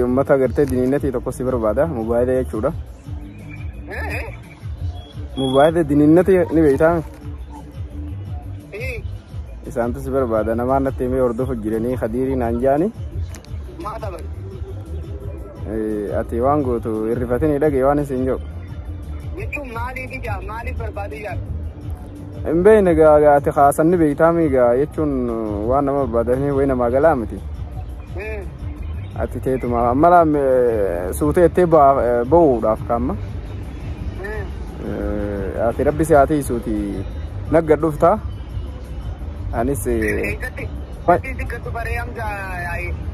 Ummata agartee diniinnatii tokko si barbaada mobaayila jechuudha. Mobaayila diniinnatii ni beektaa? Isaantu si barbaada namaan natti himee hordofu jiranii kadiirii naan jaani. Ati waan gootu hirrifatanii dhagee waan isin jiru. Jechuun maaliif ijaa maaliif barbaadu ijaa? Hin beekne ati kaasan ni beektaa miigaa jechuun waan nama barbaadanii wayi namaa galaa miti. Ati teetuma mala suutee itti bo'uudhaaf kaamma. Ati rabbi si haa tiisuuti nagga dhufta. Anis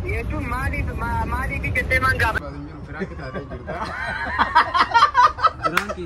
jechuun maaliif maaliif jettee maan gaafa. Biraanki.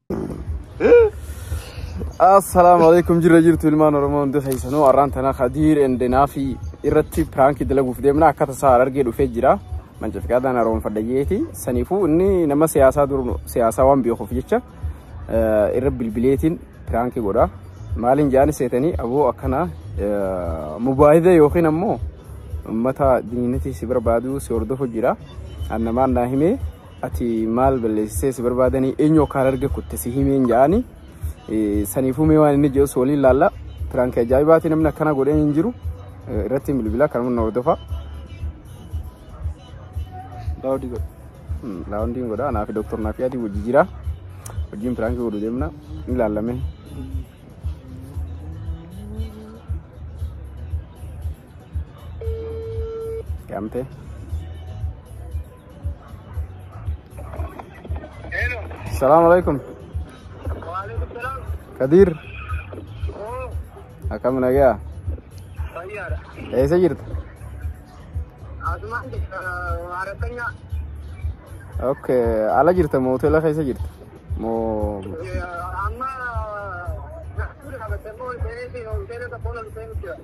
Assalaamu alaikum jirra jirtu ilmaan Oromoo hundi keessanuu arraan tana Khadiir Endenaa fi irratti piraankii dalaguuf deemna akka tasaa argee dhufee jira. Mancafiqaadhaan haroomfadhayyeeti. Saniifuu inni nama siyaasaa dur siyaasaa waan beekuuf jecha eh, irra bilbileetiin piraankii godha. Maaliin jaani seetanii aboo akkana eh, mubaahida yookiin ammoo uummata diininatii si barbaadu si hordofu jira. Annamaan naa himee ati maal balleessisee si barbaadanii eenyu akka hararge kutte si himeen ja'ani saniifuu mee waan inni jedhus waliin laalla piraanki ajaa'ibaati namni akkana godhee hin jiru irratti bilbila kanuma na hordofa. Daawudii godha. Daawudiin godha anaa fi doktor naaf yaadi wajji jira wajjiin piraanki godhu deemna ni laallamee. Yaamte. Salaamu alaikum. Kadiir. Akkam nagaa? Eessa jirta? Ok, ala jirta moo hoteela keessa jirta? Moo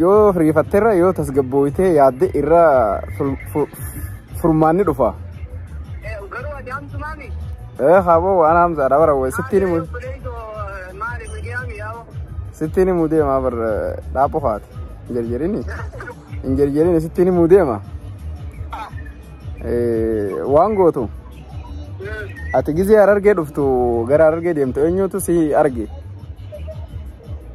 Yoo riifatterra yoo tasgabbooytee yaadde irra furmaanni dhufa. Garuu ati hamtumaa mi? Ee haaboo waan hamsaadha bara wayii sittiin himu. Maali miidiyaa miidhaa Sittiin himu deemaa bara dhaaphu faati. Hin jarjarini. Hin jarjarini sittiin himu deema. Waan gootu. Ati gizee harargee dhuftu gara harargee deemtu eenyutu si arge?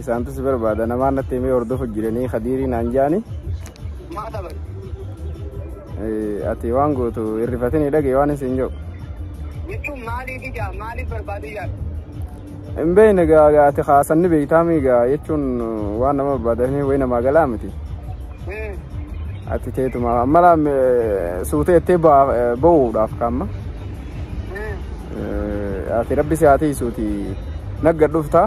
Isaantu si barbaada namaan natti himee hordofu jiranii kadiirii naan jaani. Maa dabar. Ati waan gootu hirrifatini dhagee waan isin jedhu. Jechuun maaliif ijaa maaliif barbaadu ijaa. Hin beekne gaa ati kaasan ni beektaa miigaa jechuun waan nama barbaadanii wayi namaa galaa miti. Ati teetuma mala suutee itti ba'uudhaaf kaamma. Ati rabbi si haa tiisuuti nagga dhuftaa.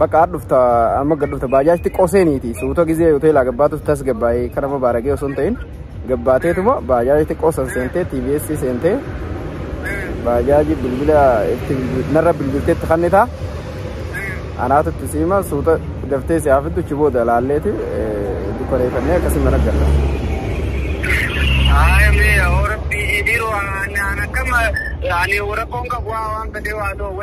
Bakka aad dhufta amma gad dhufta baajaaj xiqqoo seeniiti suuta gizee hoteelaa gabbaatus tas gabbaa'ee kara mabaaragee osoo hin ta'in gabbaateetuma baajaaj xiqqoo san seentee TBS seentee baajaaji bilbila itti bilbil- narra bilbilteetti kannitaa anaatu itti siima suuta daftee si haafiddu achi booda laalleeti dukkaneeffannee akkasii mana galla. Haaya mee yaa Rabbii biiroo ani akkam ani rakkoon qabu waan fedhe waa ta'u.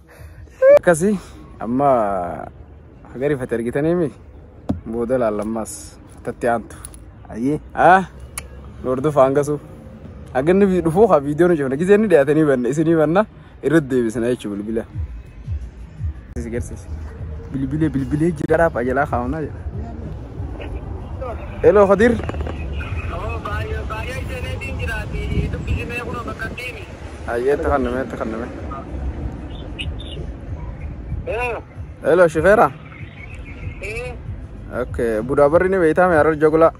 akkasi amma hagari fate argitaniimi booda laallammaas tatti aantu ayyee ah lordu faangasu haganni vi- dhufuu haa viidiyoo nu cufna gisee inni dhiyaatanii banna isinii banna irratti deebisna jechuu bilbila Isi garsiisi. bilbilee bilbilee jira garaaf ajalaa kaa'unaa jedha eloo khadir Ayyee itti kanname itti kanname. Hello shifeera. Okay budaa barri ni beektaa mee harar jogulaa.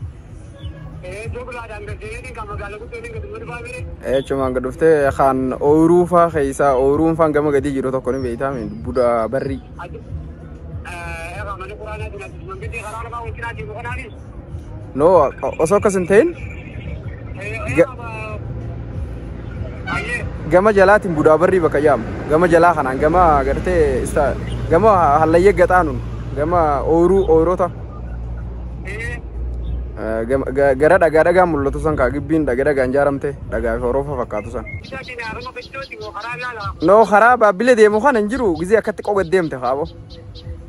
Eechumaan gad dhuftee kan ooyiruu faa keessaa ooyiruun faan gama gadii jiru tokko ni beektaa mee budaa barri. No, osoo akkas hin ta'in ga- gama jalaatiin budaa barrii bakka jedhamu. Gama jalaa kanaan gama gartee isa gama hallayyee gaxaanuun gama ooyiruu ooyiroota eh, gama- ga- gara dhagaa dhagaa mul'atu san kaa gibbiin dhagaa dhagaan jaaramte dhagaa fi horoofa fakkaatu san. No karaa baabbilee deemu kana hin jiru gizee akkatti qoga deemte kaaboo.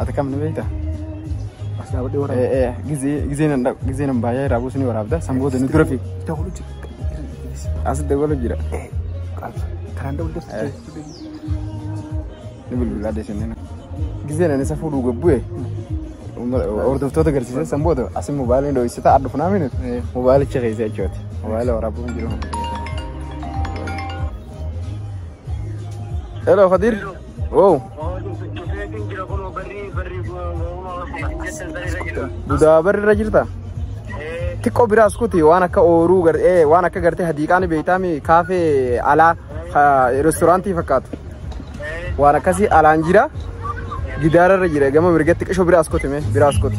Ati kam ni beekta? As dhaabadhee waraaba. Eh, eh, Gizee gizee nan dhaqu gizee nan baay'ee irraa buusu ni waraabda. San booda nu dura fi Dawwalu jira. as dabalu jira. Karaan dawwalu jira. Eh. Ni bilbilaa deesanii na. Gizee nan isa fuudhuu gabbu'e. Hordoftoota agarsiisee san booda asi mobaayilii dho'isita adda funaa minu mobaayilicha keessa jechuuti. Mobaayila waraabuu hin jiru. Hello Kadir. Wow. Dudaa barri irra jirta. Xiqqoo biraas kuti waan akka ooruu gar- eh, waan akka gartee hadiiqaa ni beektaami kaafee alaa ha- restoraantii fakkaatu. Waan akkasii alaan jira. Gidaara irra jira gama mirgatti qisho biraas kuti mee biraas kuti.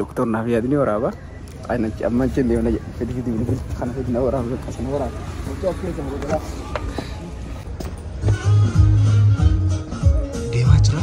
Doktor naaf yaadni waraaba. Qaanachi amma achi hin deemne jedhe. Fidi fidi bilbila kana fidi na waraaba bakka sana waraaba. Mucaa achi keessa muruu galaa. Deemaa jira.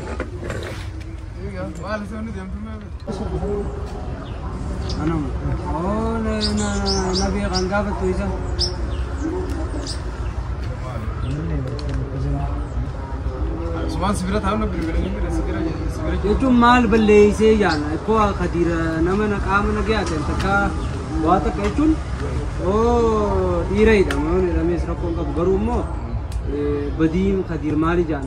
jechuun maal balleessee jaana ikkoo kadiira nama na qaama na gayaa ta'e takka waa takka jechuun oo dhiira hidhama yoo hidhamees rakkoon qabu garuu immoo badiin kadiir maali jaana.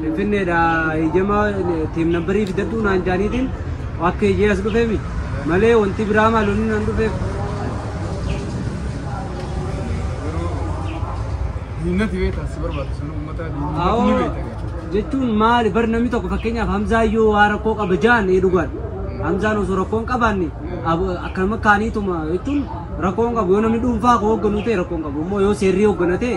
Finfinneedha eeyyama teem nambarii fidadhuu naan jaaniitiin akka eeyyee as dhufeemi malee wanti biraa maalonni naan dhufeef. Diinati beektaa si barbaadu sana uummataa diinni Awoo beektaa. jechuun maali bar namni tokko fakkeenyaaf Hamzaa yoo waa rakkoo qaba jaan ee dhugaan Hamzaan osoo rakkoon qabaanne ab- akkanuma kaaniituma jechuun rakkoon qabu yoo namni dhuunfaa koo hoogganuu ta'e rakkoon qabu immoo yoo seerrii hoogganatee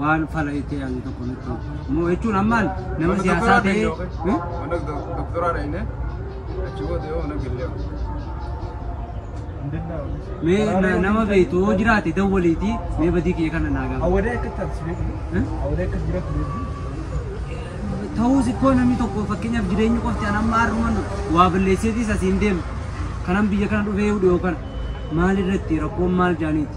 waan fala itti yaadu tokko nutti moo jechuun ammaan nama siyaasaa ta'ee hmm? Mana doktoraa dhaqne achi booda yoo mana gillee. mee na- nama beektu yoo jiraate dawwaliiti mee badii kiyya kana naa gaafa Awwadee akka taasisu beeku. Hmm? Awwadee akka jiraatu beeku. ta'uus ikkoo namni tokko fakkeenyaaf jireenyi qofti an amma har'uman waa balleesseetis asiin deemu kanan biyya kana dhufee hudhu yookaan maal irratti rakkoon maal jaaniiti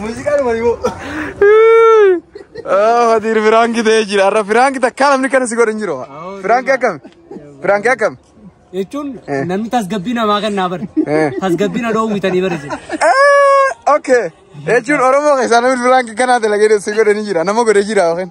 Muuziqaan wayoo. Fatiir firaanki ta'ee jira. Har'a firaanki takka namni kana si godhu hin jiru. Firaanki akkami? Firaanki akkami? Jechuun namni tasgabbii namaa kan naa bari. Tasgabbii na dhoowwitanii bari jira. Okay. Jechuun Oromoo keessaa namni firaanki kanaa dalagee si godhu ni jira. Nama godhe jira yookiin.